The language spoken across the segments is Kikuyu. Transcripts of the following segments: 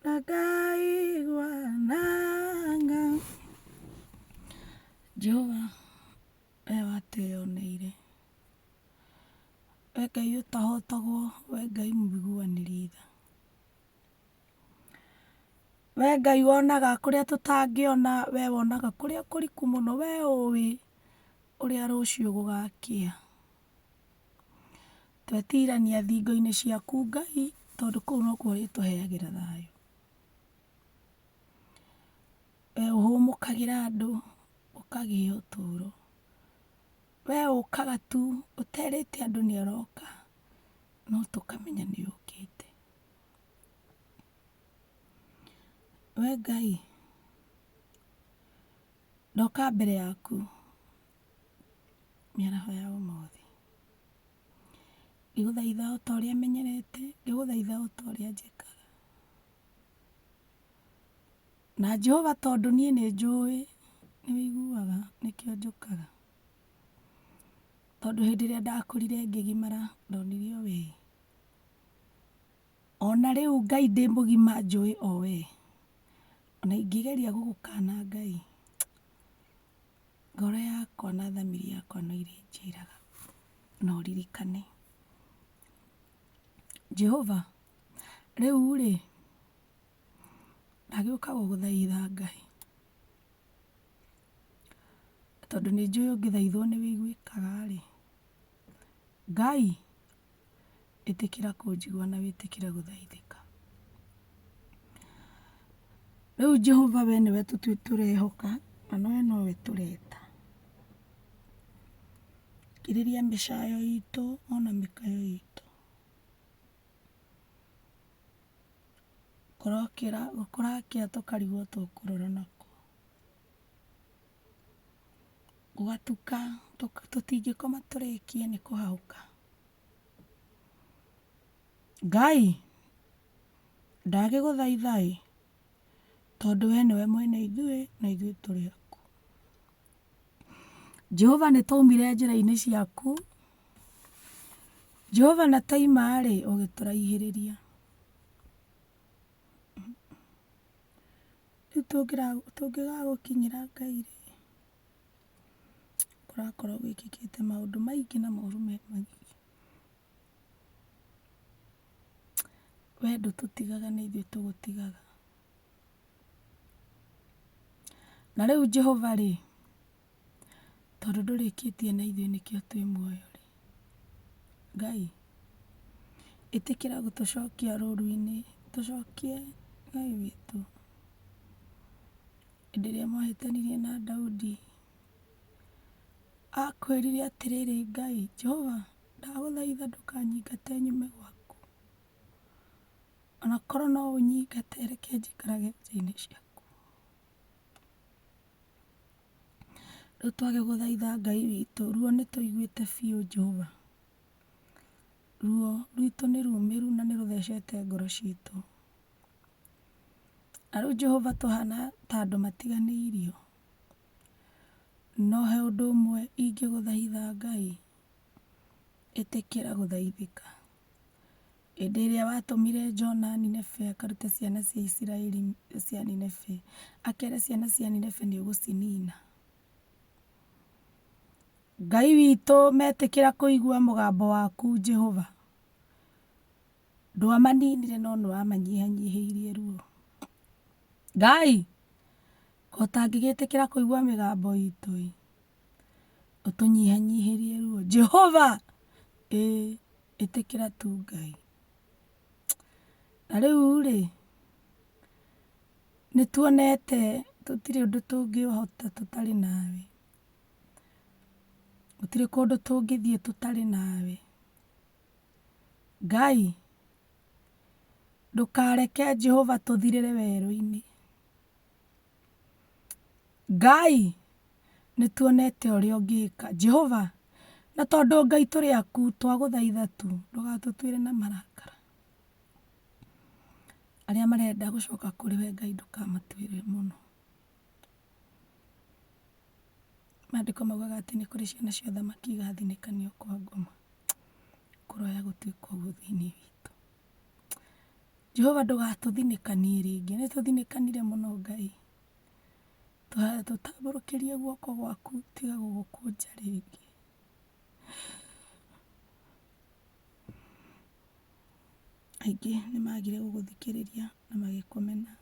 ndakaigwa nanga jehova we watwĩyoneire we ngai ũtahotagwo we ngai mũiguanĩri tha we ngai wonaga kũrĩa tũtangĩona we wonaga kũrĩa kũriku mũno we ũĩ ũrĩa rũciũ gũgakĩa Twetiirania thingo-inĩ ciaku Ngai, tondũ kũu nokuo ũrĩtũheagĩra thayũ. We ũhũmũkagĩra andũ, ũkagĩa ũtũũro. We ũkaga tu ũterĩte andũ nĩ ũroka, no tũkamenya nĩ ũkĩte. We Ngai, ndoka mbere yaku mĩaraho ya ũmũthĩ. Ngĩgũthaitha o ta ũrĩa menyerete, ngĩgũthaitha o ta ũrĩa njĩkaga. Na Jehova tondũ niĩ nĩ njũĩ nĩ ũiguaga nĩkĩo njũkaga. Tondũ hĩndĩ ĩrĩa ndakũrire ngĩgimara ndonire o wee. O na rĩu Ngai ndĩ mũgima njũĩ o wee. O na ingĩgeria gũgũkana Ngai. Ngoro yakwa na thamiri yakwa no irĩnjĩraga, 'Na ũririkane. Jehova, rĩu-rĩ, ndagĩũka gũgũthaitha Ngai, tondũ nĩnjũĩ ũngĩthaithwo nĩwĩiguĩkaga-rĩ. Ngai, ĩtĩkĩra kũnjigua na wĩtĩkĩre gũthaithĩka. Rĩu Jehova we nĩwe tũrehoka, na we nowe tũreta. Thikĩrĩria mĩcayo itũ ona mĩkayo itũ. Kũrokĩra, kũrakĩa tũkarigwo tũkũrara nakũ. Gwatuka tũtingĩkoma tũrĩkie nĩ kũhahũka. Ngai ndagĩgũthaitha ĩ, tondũ we nĩwe mwene ithuĩ na ithuĩ tũrĩ aku. Jehova nĩ twaumire njĩra-inĩ ciaku, Jehova na twaima rĩ ũgĩtũraihĩrĩria. Rĩu tũngĩra- tũngĩaga gũkinyĩra Ngai rĩ, kũrakorwo gwĩkĩkĩte maũndũ maingĩ na moru me magigi. We ndũtũtigaga nĩ ithuĩ tũgũtigaga. Na rĩu Jehova rĩ. Tondũ ndũrĩkĩtie na ithuĩ nĩkĩo twĩ muoyo rĩ, Ngai, ĩtĩkĩra gũtũcokia rũru-inĩ, tũcokie Ngai witũ. Hĩndĩ ĩrĩa mwahĩtanirie na Daudi, akwĩrire atĩrĩrĩ, Ngai, Jehova, ndagũthaitha ndũkanyingate nyume gwaku, ona korwo no ũnyingate reke njikarage njĩra-inĩ ciaku. Rĩu twagĩgũthaitha Ngai witũ, ruo nĩ tũiguĩte biũ Jehova. Ruo rwitũ nĩ rumĩru na nĩ rũthecete ngoro citũ. Na rĩu Jehova tũhana ta andũ matiganĩirio, no he ũndũ ũmwe ingĩgũthaitha Ngai, ĩtĩkĩra gũthaithĩka. Hĩndĩ ĩrĩa watũmire Jona Nineve akarute ciana cia Isiraeli cia Nineve, akere ciana cia Nineve nĩ ũgũcinina. Ngai witũ metĩkĩra kũigua mũgambo waku Jehova. Ndwamaninire no nĩ wamanyihanyihĩirie ruo. Ngai, o ta angĩgĩtĩkĩra kũigua mĩgambo itũ-ĩ. ũtũnyihanyihĩrie ruo Jehova ĩ ĩtĩkĩra tu Ngai na rĩu rĩ nĩtuonete tũtirĩ ũndũ tũngĩhota tũtarĩ nawe gũtirĩ kũndũ tũngĩthiĩ tũtarĩ nawe Ngai ndũkareke Jehova tũthirĩre werũinĩ. Ngai, nĩ tuonete ũrĩa ũngĩka. Jehova, na tondũ Ngai tũrĩ aku, twagũthaitha tu ndũgatũtuĩre na marakara. Arĩa marenda gũcoka kũrĩ we Ngai ndũkamatuĩre mũno. Maandĩko maugaga atĩ nĩ kũrĩ ciana cia ũthamaki igathinĩkanio kwa ngoma. Kũroya gũtuĩka ũguo thĩinĩ witũ. Jehova ndũgatũthinĩkanie rĩngĩ, nĩ tũthinĩkanire mũno Ngai. Tũtambũrũkĩrie guoko gwaku tiga gũgũkũnja rĩngĩ. Aingĩ nĩ magire gũgũthikĩrĩria na magĩkũmena.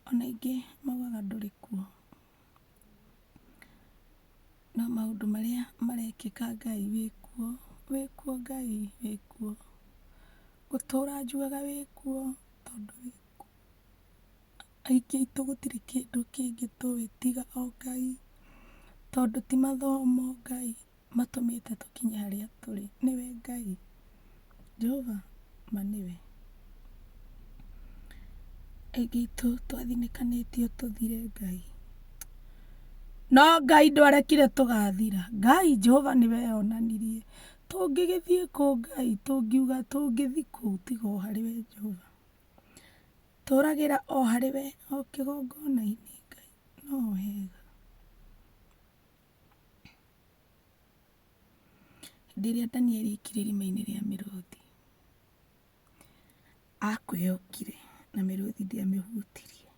Ona aingĩ maugaga ndũrĩ kuo. No maũndũ marĩa marekĩka Ngai wĩ kuo, wĩ kuo Ngai wĩ kuo. Gũtũra njugaga wĩ kuo tondũ wĩ kuo. Aingĩ aitũ gũtirĩ kĩndũ kĩngĩ tũĩ tiga o Ngai, tondũ ti mathomo Ngai matũmĩte tũkinye harĩa tũrĩ nĩwe Ngai, Jehova ma nĩwe. Aingĩ aitũ twathinĩkanĩtio tũthire Ngai, no Ngai ndwarekire tũgathira. Ngai Jehova nĩwe eyonanirie. Tũngĩgĩthiĩ kũ Ngai, tũngiuga tũngĩthiĩ kũ tiga o harĩ we Jehova. Tũragĩra o harĩ we, o kĩgongona-inĩ Ngai no ho hega. Hĩndĩ ĩrĩa Danieli aikire irima-inĩ rĩa mĩrũthi, akwĩyokire na mĩrũthi ndĩamĩhutirie.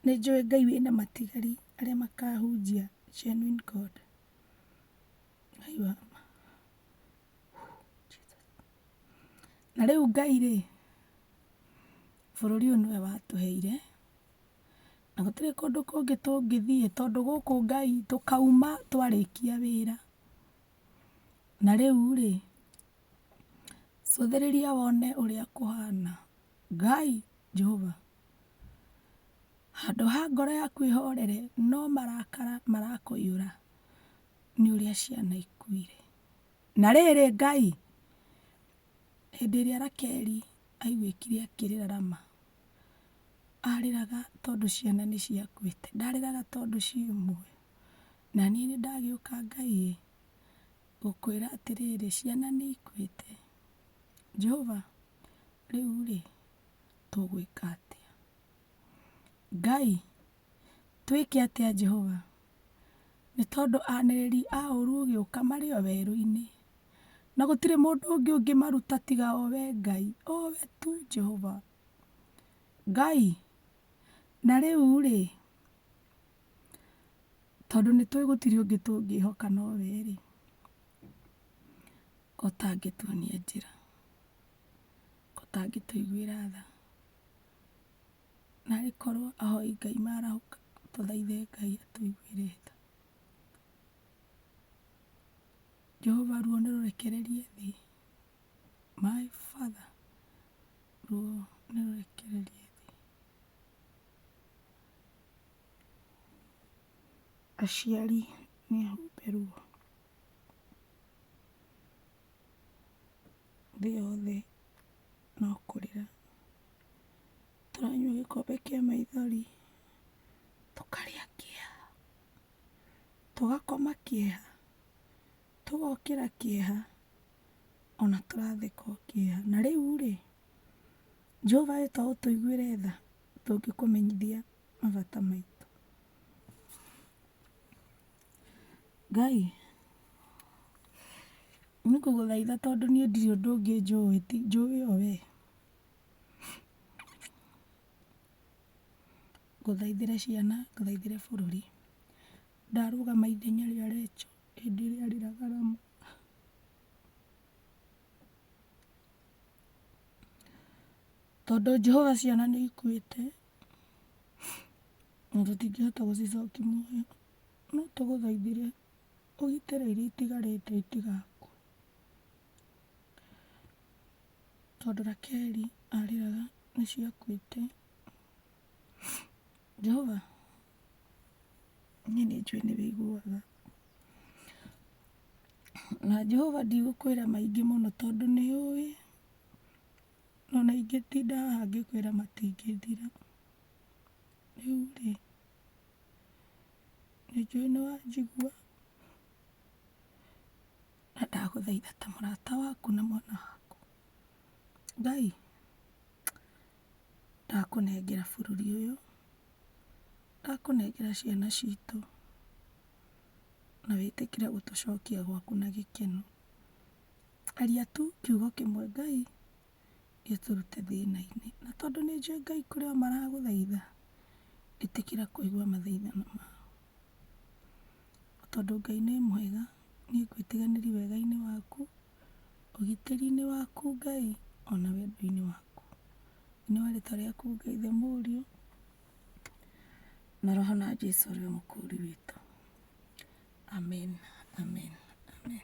Nĩ njũĩ Ngai wĩna matigari arĩa makahunjia genuine God. Ngai wa ma. Na rĩu Ngai rĩ, bũrũri ũyũ nĩwe watũheire. na gũtirĩ kũndũ kũngĩ tũngĩthiĩ tondũ gũkũ Ngai tũkauma twarĩkia wĩra. Na rĩu rĩ, cũthĩrĩria wone ũrĩa kũhana. Ngai Jehova, handũ ha ngoro yaku ĩhorere, no marakara marakũiyũra nĩ ũrĩa ciana ikuire. Na rĩrĩ Ngai, hĩndĩ ĩrĩa Rakeli aiguĩkire akĩrĩra Rama. arĩraga tondũ ciana nĩ ciakuĩte, ndarĩraga tondũ ciĩ muoyo. Na niĩ nĩ ndagĩũka Ngai ĩ, gũkwĩra atĩrĩrĩ, ciana nĩ ikuĩte. Jehova rĩu rĩ, tũgwĩka atĩa? Ngai Twĩke atĩa Jehova? Nĩ tondũ anĩrĩri a ũũru ũgĩũka marĩ o werũ-inĩ, na gũtirĩ mũndũ ũngĩ ũngĩmaruta tiga o wee Ngai, o wee tu Jehova. Ngai, na rĩu-rĩ, tondũ nĩ tũĩ gũtirĩ ũngĩ tũngĩĩhoka no wee-rĩ, ũtangĩtuonia njĩra, ũtangĩtũiguĩra tha. Na agĩkorwo ahoi Ngai marahũka, tũthaithe Ngai atũiguĩre tha. Jehova ruo nĩ rũrekererie thĩ. My Father, ruo nĩ rũrekererie thĩ. Aciari nĩ ahumbe ruo. Thĩ yothe. no kũrĩra tũranyua gĩkombe kĩa maithori, tũkarĩa kĩeha, tũgakoma kĩeha, tũgokĩra kĩeha, ona tũratheka o kĩeha. Na rĩu-rĩ, Jehova we to ũtũiguĩre tha tũngĩkũmenyithia mabata maitũ. Ngai, nĩ kũgũthaitha tondũ niĩ ndirĩ ũndũ ũngĩ njũĩ ti njũĩ ĩyo wee, ngũthaithĩre ciana, ngũthaithĩre bũrũri. Ndarũgama ithenya rĩa Recho hĩndĩ ĩrĩa arĩraga Rama. Tondũ Jehova ciana nĩ ikuĩte na tũtingĩhota gũcicokia muoyo. No tũgũthaithire ũgitĩre iria itigarĩte itigakue. Tondũ Rakeli arĩraga nĩ ciakuĩte. Jehova, niĩ nĩ njũĩ nĩ ũiguaga. Na Jehova ndigũkwĩra maingĩ mũno tondũ nĩ ũĩ. Ona ingĩtinda haha ngĩkwĩra matingĩthira. Rĩu rĩ. Nĩ njũĩ nĩ wanjigua, na ndagũthaitha ta mũrata waku na mwana waku, Ngai, ndakũnengera bũrũri ũyũ, ndakũnengera ciana citũ, na wĩtĩkĩre gũtũcokia gwaku na gĩkeno. Aria tu kiugo kĩmwe Ngai, gĩtũrute thĩna-inĩ. Na tondũ nĩ njũĩ Ngai kũrĩ o maragũthaitha, ĩtĩkĩra kũigua mathaithana mao. Tondũ Ngai nĩ mwega, niĩ ngwĩtiganĩria wega-inĩ waku, ũgitĩri-inĩ waku Ngai, ona wendo-inĩ waku. Thĩinĩ wa rĩtwa rĩaku Ngai Ithe Mũriũ, na Roho na Jesũ ũrĩa Mũkũũri witũ. Amen, Amen, Amen.